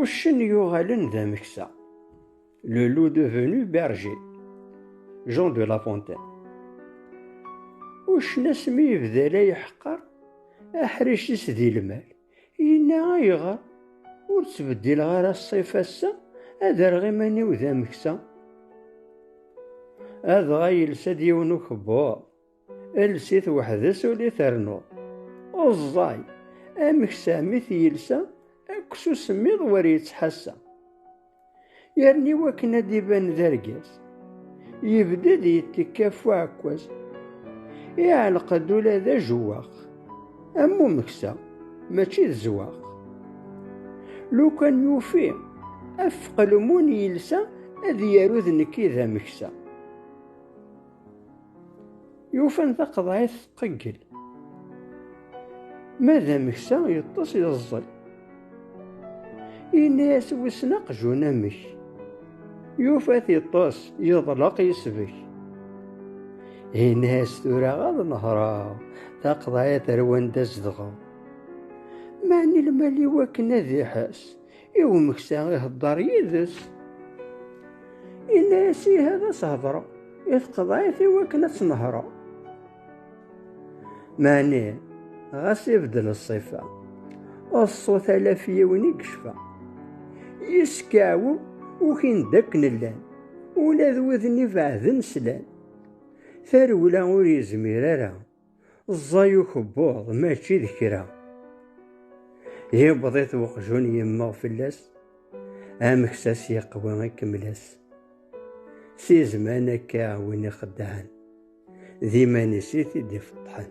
Uccen yuɣalen d ameksa. Le loup devenu berger. Jean de La Fontaine. Uccen asmi yebda la yeḥqer aḥric-is di lmal. Yenna ayɣer ur ttbeddileɣ ara ṣṣif ass-a ad rreɣ iman-iw d ameksa. Adɣa yelsa-d yiwen ukebbuḍ. Elsit weḥd-s ur d-iternuḍ. Uẓẓay, amek sahmit yelsa akk s usemmiḍ wer yettḥassa. Yerna iwakken ad d-iban d argaz, yebded yettekka ɣef uɛekkaz. Iɛelleq-d ula d ajewwaq, am umeksa, mačči d zzwaq. Lukan yufi afeqlemun yelsa ad yaru d nekk i d ameksa. Yufan taqeḍɛit tqeggel. Ma d ameksa yeṭṭes yeẓẓel. Yenna-as wissen aqjun amek. Yufa-t yeṭṭes yeḍleq yesbek. Yenna-as tura ad nehreɣ taqeḍɛit ar wanda zedɣeɣ. Mani lmal-iw akken ad iḥess. i umeksa iheddeṛ yid-s, yenna-yas ihi ad as-hedṛeɣ i tqeḍɛit i wakken ad tt-nehṛeɣ. Meɛni ɣas ibeddel ṣṣifa, d ṣṣut ala ɣef yiwen i yecfa. Yeskeɛwew ukin d akken llan, ula d wid-nni ibeɛden slan. Tarewla ur yezmir ara. Ẓẓay ukebbuḍ mačči d kra. Yewweḍ-it weqjun yemmeɣ fell-as, amek s as yeqwa ikemmel-as. Si zman akka win ixeddɛen, d iman-is i t-id-ifeṭṭḥen.